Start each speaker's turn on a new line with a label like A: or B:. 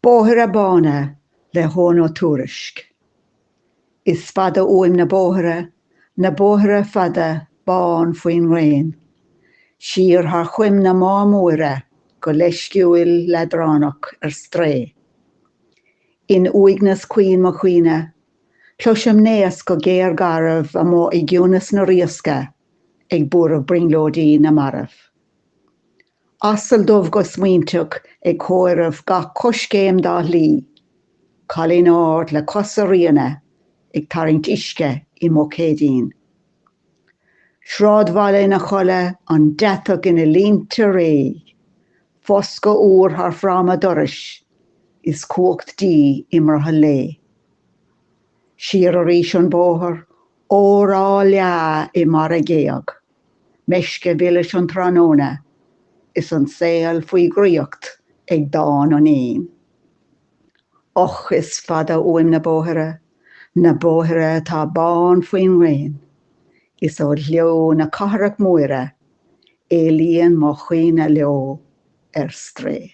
A: Bóithre Bána le hEoghan Ó Tuairisc. Is fada uaim na bóithre, na bóithre fada bán faoin ngréin, siar thar choim na Má Móire go leisciúil leadránach ar strae. In uaigneas caoin mo chuimhne, cloisim naosc go géar garbh amuigh i gciúnas na riasca ag buaireamh brionglóidí na marbh. Asal dubh go smaointeach ag comhaireamh gach coiscéim dá shlí. Cailín ard le cosa ríona ag tarraingt uisce i mbuicéidín. Sráidbhaile ina chodladh, an deatach ina línte réidh. Foscadh úr thar fráma dorais is cumhacht dí i mbrothall lae. Siar arís an bóthar, ór á leá i mbarra géag. Meisce mhilis an tráthnóna is an saol faoi dhraíocht ag dán an éin. Och, is fada uaim na bóithre, na bóithre atá bán faoin ngréin, Is ó ghleo na cathrach móire éalaíonn mo chuimhne leo ar strae.